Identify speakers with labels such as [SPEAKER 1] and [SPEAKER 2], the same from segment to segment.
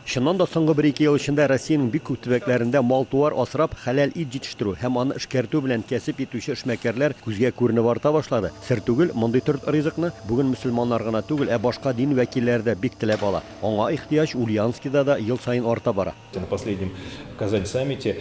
[SPEAKER 1] Чыннан да, соңгы бер-ике ел эчендә Россиянең бик күп төбәкләрендә мал-туар асрап, хәләл ит җитештерү һәм аны эшкәртү белән кәсеп итүче эшмәкәрләр күзгә күренеп арта башлады. Сер түгел, мондый төр ризыкны бүген мөселманнар гына түгел, ә башка дин вәкилләре дә бик теләп ала. Аңа ихтыяҗ Ульяновскида да ел саен арта бара. На последнем
[SPEAKER 2] Казань саммите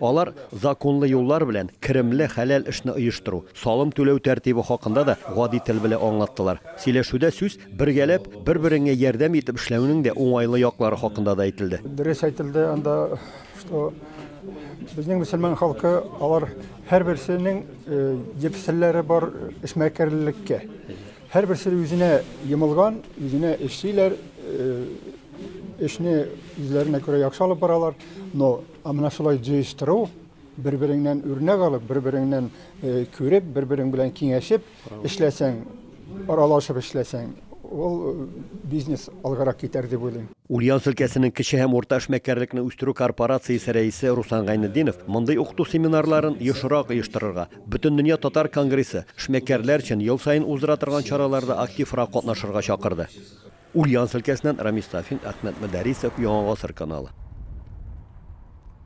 [SPEAKER 1] Алар законлы юллар белән керемле, хәләл эшне оештыру, салым түләү тәртибе хакында да гади тел белә аңлаттылар. Сөйләшүдә сүз бергәләп, бер-береңә ярдәм итеп эшләүнең дә уңайлы яклары хакында да әйтелде. Дөрес әйтелде анда,
[SPEAKER 3] что безнең мөселман халкы, алар һәрберсенең еп серләре бар эшмәкәрлеккә. Һәрберсе үзенә йомылган, үзенә эшлиләр, эшне үзләренә күрә яхшы алып баралар, но Ә менә шулай җыештыру, бер-береңнән үрнәк алып, бер-береңнән күреп, бер-берең белән киңәшеп эшләсәң, аралашып эшләсәң, ул бизнес алгарак китәр дип уйлыйм. Ульяновск өлкәсенең
[SPEAKER 1] кече һәм урта эшмәкәрлекне үстерү корпорациясе рәисе Руслан Гайнетдинов мондый укыту семинарларын ешрак оештырырга, Бөтендөнья татар конгрессы, эшмәкәрләр өчен ел саен уздыра торган чараларда активрак катнашырга чакырды. Ульяновск өлкәсеннән Рамис Сафин, Әхмәт Мөдәрисов, Яңа гасыр каналы.